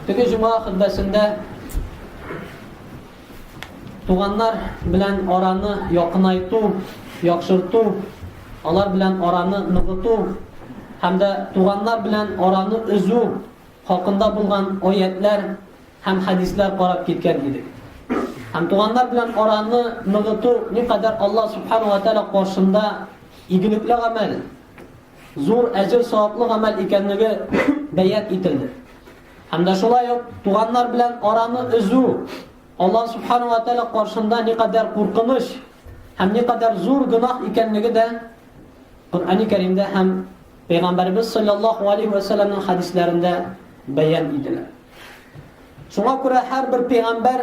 Теге җума хөтбәсендә туганнар белән араны якынайту, яхшырту, алар белән араны ныгыту һәм дә туганнар белән араны өзү хакында булган аятлар һәм хәдисләр карап киткән идек. Һәм туганнар белән араны ныгыту никадәр Аллаһ субхана ва тәгалә каршында игелекле гамәл. зур әҗер-саваплы гамәл икәнлеге бәян ителде. Һәм дә шулай ук туганнар белән араны өзү Алла субхану ва тәала каршында никадәр куркыныч һәм никадәр зур гөнаһ икәнлеге дә Коръәни Кәримдә һәм Пәйгамбәрбез саллаллаху алейхи ва салламның хадисләрендә бәян ителә. Шуңа күрә һәрбер пәйгамбәр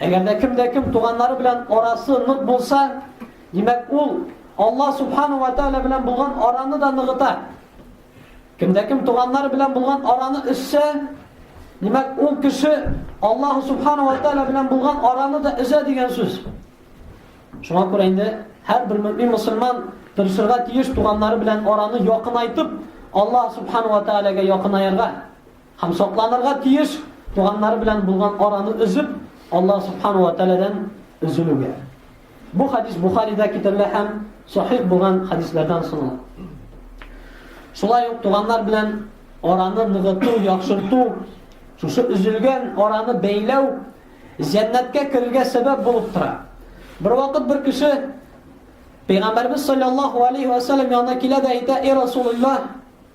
Әгәр дә кем дә кем туганнары белән арасы нык булса, димәк ул Аллаһ субхану ва тааля белән булган араны да ныгыта. Кем дә кем туганнары белән булган араны өссә, димәк ул кеше Аллаһ субхану ва тааля белән булган араны да өзә дигән сүз. Шуңа күрә инде һәрбер мөмин мусульман тырышырга тиеш туганнары белән араны якынайтып, Аллаһ субхану ва тааляга якынаярга. Һәм сакланырга тиеш туганнары белән булган араны өзеп, Аллаһ субхану ва тәгаләдән өзелүгә. Бу хадис Бухарида китерелә һәм сахих булган хадислардан санала. Шулай ук туганнар белән араны ныгыту, яхшырту, шушы өзелгән араны бәйләү җәннәткә керергә сәбәп булып тора. Бер вакыт бер кеше Пәйгамбәрбез саллаллаху алейхи ва саллям янына килә дә әйтә: "Эй Расулуллаһ,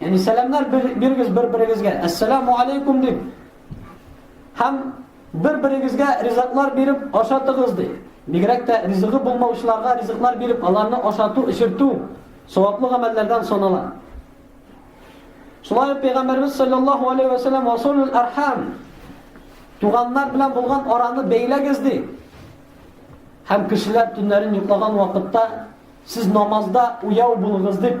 Яни сәламнәр бирегез бер-берегезгә. Ассаламу алейкум дип. Һәм бер-берегезгә ризыклар биреп ашатыгыз ди. Бигрәк тә ризыгы булмаучыларга ризыклар биреп, аларны ашату, эчертү саваплы гамәлләрдән санала. Шулай ук Пәйгамбәрбез саллаллаһу алейхи ва саллям асулул архам туганнар белән булган араны бәйләгез ди. Һәм кешеләр төннәрен йоклаган вакытта сез намазда уяу булыгыз дип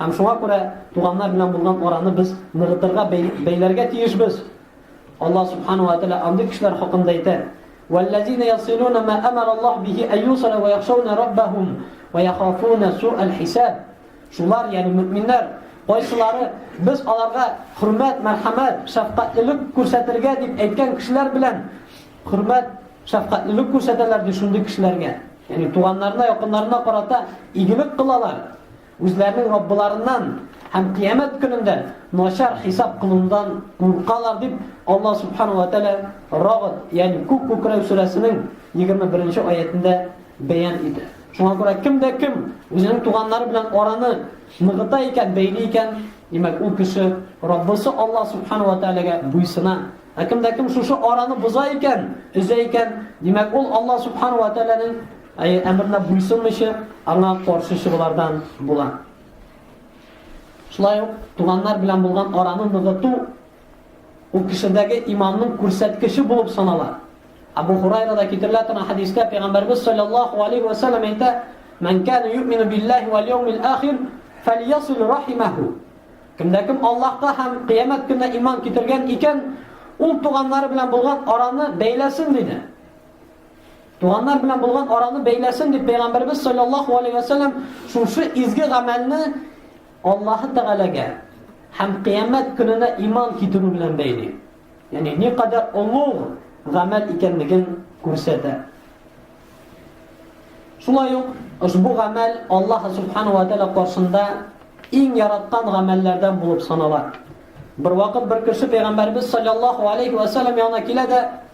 Һәм шуңа күрә туганнар белән булган араны без ныгытырга, бәйләргә тиешбез. Аллаһ Субхану ва Тәгалә андый кешеләр хакында әйтә: "Валлазина ясилуна ма амара Аллаһ бихи аюсара ва яхшауна Раббахум ва яхафуна суал хисаб". Шулар, ягъни мөэминнәр, кайсылары без аларга хөрмәт, мәрхәмәт, шәфкатьлелек күрсәтергә дип әйткән кешеләр белән хөрмәт, шәфкатьлелек күрсәтәләр ди шундый кешеләргә. Ягъни туганнарына, якыннарына карата игелек кылалар. Үзләренең Раббыларыннан һәм кыямәт көнендә начар хисап кылудан куркалар дип Алла Субхану ва Тәлә Рагд, ягъни Күк күкрәү сүрәсенең 21 аятендә бәян итә. Шуңа күрә кем дә кем үзенең туганнары белән араны ныгыта икән, бәйли икән, димәк ул кеше Раббысы Алла Субхану ва Тәләгә буйсына. Ә кем дә кем шушы араны боза икән, өзә икән, димәк ул Алла Субхану ва Тәләнең Ә әмеренә буйсынмыйча, аңа каршы чыгулардан була. Шулай ук туганнар белән булган араны ныгыту ул кешедәге иманның күрсәткече булып санала. Абу Хурайрада китерелә торган хадистә Пәйгамбәрбез саллаллаху алейхи ва саллям әйтә: "Ман кана юмину биллаһи вал яумил ахир, фальясил рахимаху." Кемдә кем Аллаһка һәм кыямәт көненә иман китергән икән, ул туганнары белән булган араны бәйләсен диде. Туганнар белән булган араны бәйләсен дип пәйгамбәрбез саллаллаһу алейһи ва саллям шушы изге гамәлне Аллаһ Тәгаләгә һәм кыямәт көненә иман китерү белән бәйли. Ягъни ни кадәр олуг гамәл икәнлеген күрсәтә. Шулай ук ошбу гамәл Аллаһ субхану ва тәгалә каршында иң яраткан гамәлләрдән булып санала. Бер вакыт бер кеше пәйгамбәрбез саллаллаһу алейһи ва саллям янына килә дә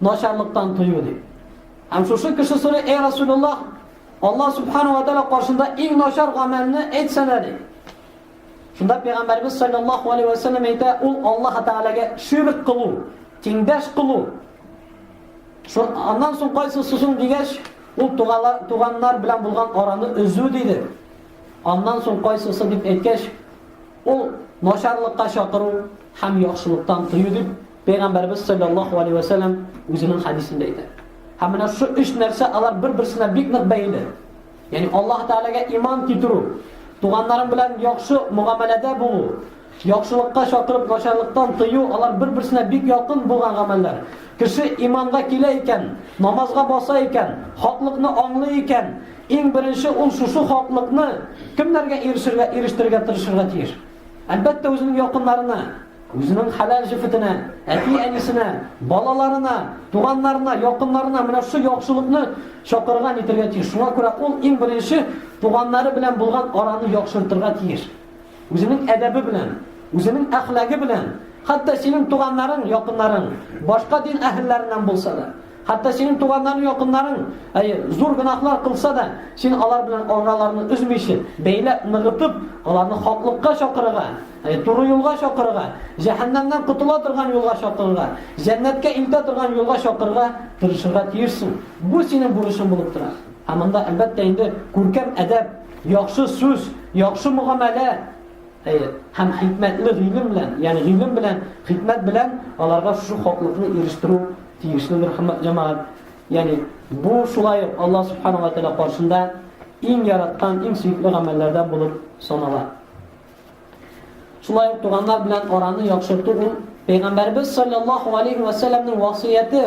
Начарлыктан тыю ди. Һәм шушы кеше сорый, эй Расулуллах, Аллаһ субхана ва тәала каршында иң начар гамәлне әйтсәлә ди. Шунда пәйгамбәрбез саллаллаху алейхи ва саллям әйтә, ул Аллаһ тәгаләгә ширк кылу, тиңдәш кылу. Шул аннан соң кайсы сүзен дигәч, ул туганнар белән булган араны өзү диде. Аннан соң кайсысы дип әйткәч, ул начарлыкка чакыру һәм яхшылыктан тыю дип Пәйгамбәрбез саллаллаһу алейһи ва сәлләм үзенең хадисендә әйтә. Һәм менә шу өч нәрсә алар бер-берсенә бик нык бәйле. Ягъни Аллаһ Тәгаләгә иман китерү, туганнарың белән яхшы мөгамәләдә булу, яхшылыкка чакырып начарлыктан тыю, алар бер-берсенә бик якын булган гамәлләр. Кеше иманга килә икән, намазга баса икән, хаклыкны аңлый икән, иң беренче ул шушы хаклыкны кемнәргә ирешергә, ирештерергә тырышырга тиеш? Әлбәттә, үзенең якыннарына. Үзенең хәләл җефетенә, әти-әнисенә, балаларына, туганнарына, якыннарына менә шушы яхшылыкны чакырган итергә тиеш. Шуңа күрә ул иң беренче туганнары белән булган араны яхшыртырга тиеш. Үзенең әдәбе белән, үзенең әхлагы белән, хәтта синең туганнарың, якыннарың башка дин әһелләреннән булса да, хәтта синең туганнарың, якыннарың, әйе, зур гынахлар кылса да, син алар белән араларны үзмичә, бәйләп, ныгытып, аларны хаклыкка чакырырга Ә туры юлга чакырырга, җәһәннәмнән котыла торган юлга чакырырга, җәннәткә илтә торган юлга чакырырга тырышырга тиешсең. Бу синең бурычың булып тора. Һәм монда, әлбәттә инде, күркәм әдәп, яхшы сүз, яхшы мөгамәлә, әйе, һәм хикмәтле гыйлем белән, ягъни гыйлем белән, хикмәт белән аларга шушы хаклыкны ирештерү тиешледер, хөрмәт җәмәгать. Ягъни бу шулай ук Аллаһ субхана ва тәгалә каршында иң яраткан, иң сөекле гамәлләрдән булып санала. Шулай ук туганнар белән араны яхшырту ул Пәйгамбәрбез саллаллаһу алейхи ва сәлләмнең васыяте.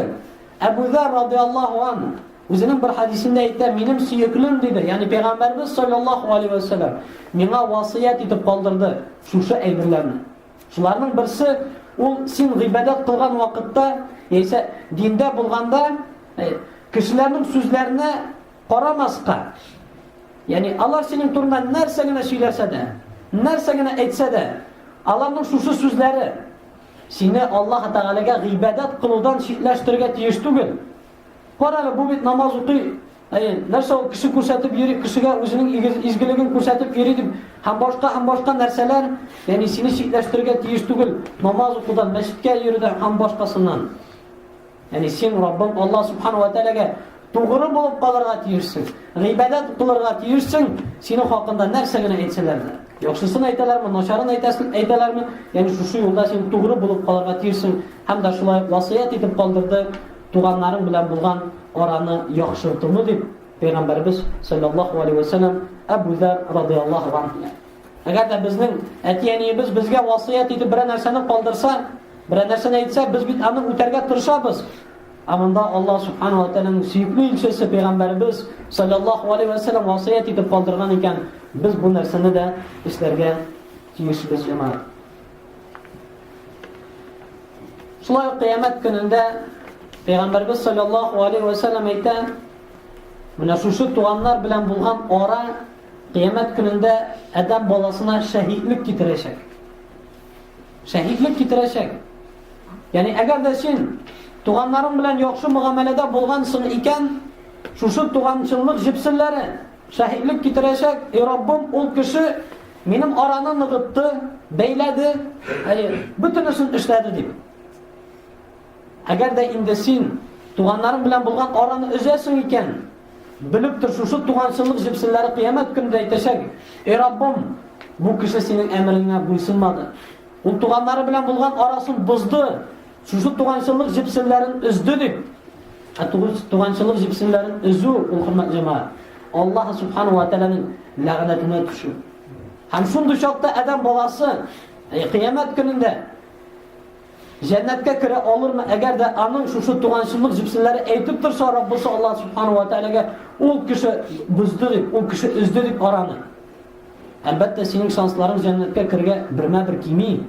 Әбу Зар радиаллаһу ан үзенең бер хадисендә әйтә, минем сөеклем диде, ягъни Пәйгамбәрбез саллаллаһу алейхи ва сәлләм миңа васыят итеп калдырды шушы әйберләрне. Шуларның берсе ул син гыйбадәт кылган вакытта, яисә диндә булганда, кешеләрнең сүзләренә Карамаска, ягъни алар синең турында нәрсә генә сөйләсә дә, нәрсә генә әйтсә дә, аларның шушы сүзләре сине Аллаһ Тәгаләгә гыйбадәт кылудан читләштерергә тиеш түгел. Карале, бу бит намаз укый, Әйе, нәрсә ул кеше күрсәтеп йөри, кешегә үзенең изгелеген күрсәтеп йөри дип, һәм башка һәм башка нәрсәләр, ягъни сине читләштерергә тиеш түгел, намаз укудан, мәчеткә йөрүдән һәм башкасыннан. Яни син Раббың Аллаһ субхана ва тәгаләгә тугры булып калырга тиешсең. Гыйбадәт кылырга тиешсең. Синең хакында нәрсә генә әйтсәләр дә. Яхшысын әйтәләрме, начарын әйтәсен әйтәләрме? Яни шушы юлда син тугры булып калырга тиешсең. Һәм дә шулай васыять итеп калдырды, туганнарың белән булган араны яхшыртуны дип Пәйгамбәрбез саллаллаһу алейһи ва саллям Әбу Зәр радиаллаһу анһу Әгәр дә безнең әти-әниебез безгә васыять итеп берәр нәрсәне калдырса, берәр нәрсәне әйтсә, без бит аны үтәргә тырышабыз. Ә монда Аллаһ субханаһу ва тааляның сөекле илчесе пәйгамбәребез саллаллаһу алейхи ва саллям васыять итеп калдырган икән, без бу нәрсәне дә эшләргә тиешбез, җәмәгать. Шулай ук кыямәт көнендә пәйгамбәребез саллаллаһу алейхи ва саллям әйтә, менә шушы туганнар белән булган ара Кыямәт көнендә Адәм баласына шәһидлек китерәчәк. Шәһидлек китерәчәк. Яни әгәр дә син туганнарың белән яхшы мөгамәләдә булгансың икән, шушы туганчыллык җепсеннәре шәһидлек китерәчәк, и Раббым, ул кеше минем араны ныгытты, бәйләде, әйе, бөтенесен эшләде дип. Әгәр дә инде син туганнарың белән булган араны өзәсең икән, белеп тор, шушы туганчылык җепселләре кыямәт көнендә әйтәчәк, Эй Раббым, бу кеше синең әмереңә буйсынмады. Ул туганнары белән булган арасын бозды, шушы туганчылык җепселләрен өзде дип. Ә туганчылык җепселләрен өзү, ул хөрмәт җәмәгать, Аллаһ субхану ва тәгаләнең ләгънәтенә төшү. Һәм шундый чакта адәм баласы кыямәт көнендә Җәннәткә керә алырмы, әгәр дә аның шушы туганчыллык җепселләре әйтеп торса, Раббысы Аллаһ Субхану ва Тәгаләгә ул кеше бозды дип, ул кеше өзде дип араны. Әлбәттә, синең шансларың җәннәткә кергә бермә-бер кими.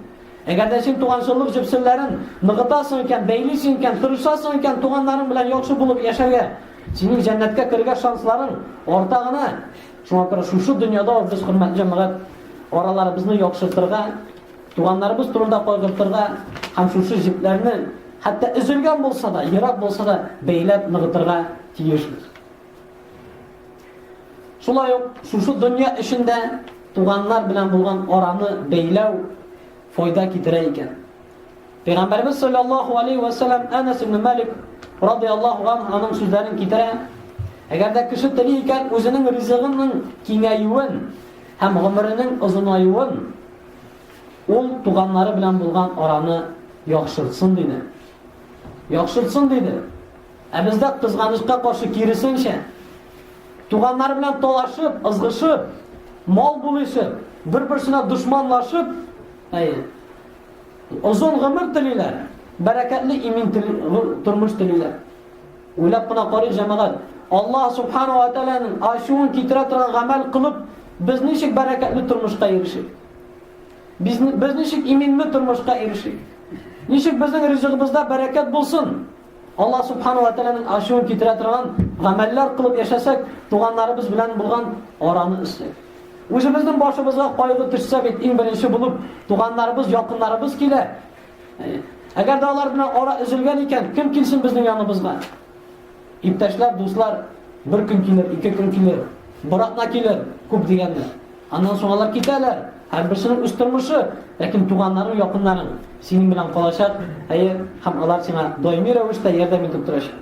Әгәр дә син туганчыллык җепселләрен ныгытасың икән, бәйлисең икән, тырышасың икән туганнарың белән яхшы булып яшәргә, синең җәннәткә кергә шансларың арта гына. Шуңа күрә шушы дөньяда без хөрмәтле җәмәгать араларыбызны яхшыртырга Туганнарыбыз турында кайгыртырга һәм шушы җепләрне, хәтта өзелгән булса да, ерак булса да, бәйләп ныгытырга тиешбез. Шулай ук шушы дөнья эшендә туганнар белән булган араны бәйләү файда китерә икән. Пәйгамбәрбез саллаллаһу алейхи ва саллям Анас ибн Малик радиаллаһу анһу аның сүзләрен китерә. Әгәр дә кеше тели икән, үзенең ризыгының киңәюен һәм гомеренең озынаюын Ул туганнары белән булган араны яхшыртсын диде. Яхшыртсын диде. Ә бездә кызганычка каршы киресенчә, туганнар белән талашып, ызгышып, мал булыйсы, бер-берсенә дошманлашып, әй, озын гомер телиләр, бәрәкәтле имин тел, тормыш телиләр. Уйлап кына карыйк, җәмәгать, Аллаһ Субхана ва Тәгаләнең ачуын китерә торган гамәл кылып, без ничек бәрәкәтле тормышка ирешик? Без, без ничек иминле тормышка ирешик? Ничек безнең ризыгыбызда бәрәкәт булсын? Аллаһ Субхана ва Тәгаләнең ачуын китерә торган гамәлләр кылып яшәсәк, туганнарыбыз белән булган араны өстәк. Үзебезнең башыбызга кайгы төшсә бит, иң беренче булып туганнарыбыз, якыннарыбыз килә. Әгәр дә алар белән ара өзелгән икән, кем килсен безнең яныбызга? Иптәшләр, дуслар, бер көн килер, ике көн килер, бер атна килер, күп дигәндә. Аннан соң алар китәләр. Һәрберсенең үз тормышы, ләкин туганнарың, якыннарың синең белән калачак, әйе, һәм алар сиңа даими рәвештә ярдәм итеп торачак.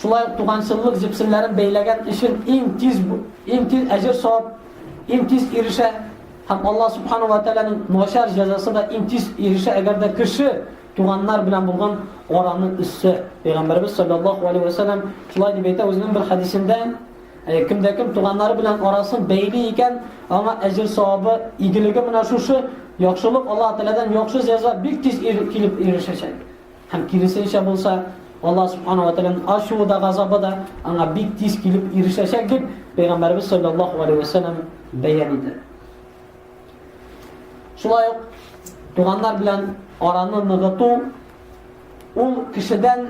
Шулай ук туганчыллык җепсеннәрен бәйләгән өчен иң тиз иң тиз әҗер савап иң тиз ирешә һәм Алла субхану ва тааляның начар җәзасы да иң тиз ирешә, әгәр дә кеше туганнар белән булган араны үссе. Пәйгамбәрбез саллаллаху алейхи ва саллям шулай дип әйтә үзенең бер хәдисендә, Э, кемдә кем туганнары белән арасын бәйли икән, аңа әҗер савабы, игелеге менә шушы, яхшылык Аллаһ Тәгаләдән яхшы җәза бик тиз килеп ирешәчәк. Һәм киресенчә булса, Аллаһ субхана ва тәгаләнең ачуы да, газабы да аңа бик тиз килеп ирешәчәк дип пәйгамбәрбез саллаллаһу алейһи вәсәлләм бәян итә. Шулай ук туганнар белән араны ныгыту ул кешедән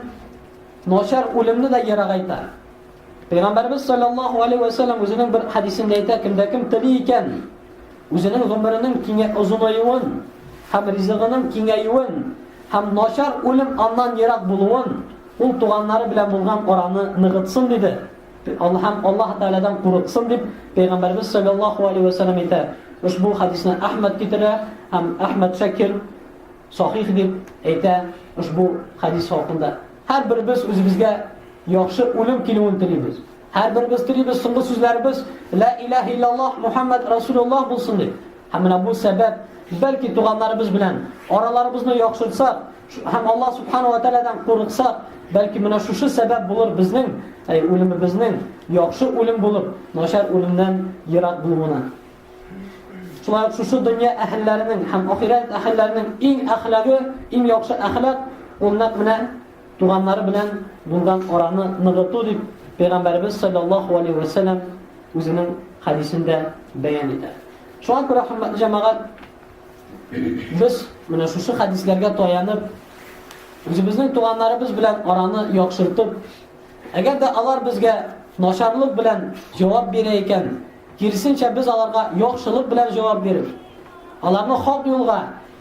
начар үлемне дә ерагайта. Пәйгамбәрбез саллаллаһу алейһи вәсәлләм үзенең бер хадисендә әйтә, кемдә кем тели икән, Үзенең гомеренең киңә озынаюын һәм ризыгының киңәюен һәм начар үлем аннан ерак булуын, ул туганнары белән булган араны ныгытсын диде һәм Аллаһ Тәгаләдән курыксын дип, Пәйгамбәребез салләллаһу алейһи вә сәлләм әйтә. Ошбу хәдисне Әхмәд китерә һәм Әхмәд Шакир сахих дип әйтә ошбу хәдис хакында. Һәрберебез үзебезгә яхшы үлем килүен телибез. Һәрберебез телибез соңгы сүзләребез Лә илаһ иллаллаһ Мухаммад Расулуллаһ булсын дип. Һәм менә бу сәбәп, бәлки туганнарыбыз белән араларыбызны яхшыртсак, һәм Алла субхана ва тәгаләдән курыксак, бәлки менә шушы сәбәп булыр безнең, әй үлемебезнең яхшы үлем булып, начар үлемнән ерак булуына. Шулай ук шушы дөнья әһелләренең һәм ахирәт әһелләренең иң әхлагы, иң яхшы әхлак, ул нәкъ менә Туганнары белән булган араны ныгыту, дип Пәйгамбәребез салләллаһу алейһи вә сәлләм үзенең хәдисендә бәян итә. Шуңа күрә хөрмәтле җәмәгать, без менә шушы хәдисләргә таянып, үзебезнең туганнарыбыз белән араны яхшыртып, әгәр дә алар безгә начарлык белән җавап бирә икән, киресенчә без аларга яхшылык белән җавап биреп, аларны хак юлга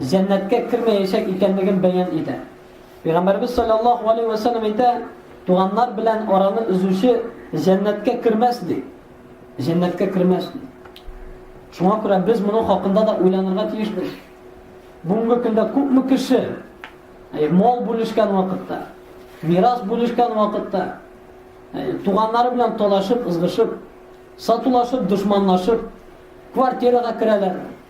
җәннәткә кермәячәк икәнлеген бәян итә. Пәйгамбәребез саллаллаһу алейһи вә сәлләм әйтә, туганнар белән араны өзүче җәннәткә кермәс ди. Җәннәткә кермәс ди. Шуңа күрә без моның хакында да уйланырга тиешбез. Бүгенге көндә күпме кеше әй, мал бүлешкән вакытта, мирас бүлешкән вакытта, әй, туганнары белән талашып, ызгышып, сатулашып, дошманлашып, квартирага керәләр.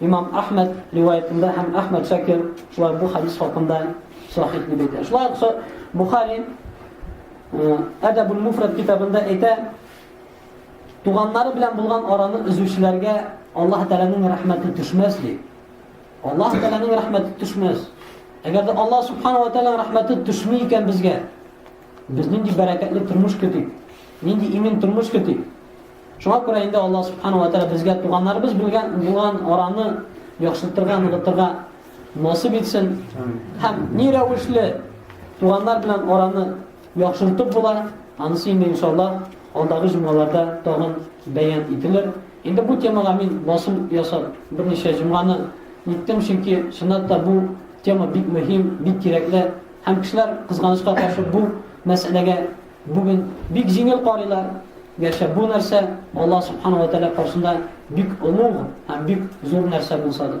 Имам Әхмәд риваятында һәм Әхмәд Шакир шулай бу хадис хакында сахих дип әйтә. Шулай ук Бухари Әдәбул Муфрат китабында әйтә, туганнары белән булган араны өзүчеләргә Аллаһ Тәгаләнең рәхмәте төшмәс ди. Аллаһ Тәгаләнең рәхмәте төшмәс. Әгәр дә Аллаһ Субхану ва Тәгаләнең рәхмәте төшми икән безгә, без нинди бәрәкәтле тормыш көтик? Нинди имин тормыш көтик? Шуңа күрә инде Аллаһ Субхана ва Тәгалә безгә туганнарыбыз белгән булган араны яхшыртырга, ныгытырга насыйп итсен. Һәм ни рәвешле туганнар белән араны яхшыртып була, анысы инде иншаллаһ алдагы җомгаларда тагын бәян ителер. Инде бу темага мин басым ясап берничә җомганы иттем, чөнки чынлап та бу тема бик мөһим, бик кирәкле һәм кешеләр кызганычка каршы бу мәсьәләгә Бүген бик җиңел карыйлар, гәрчә бу нәрсә Аллаһ Субхана ва Тәгалә каршында бик олуг һәм бик зур нәрсә булса да.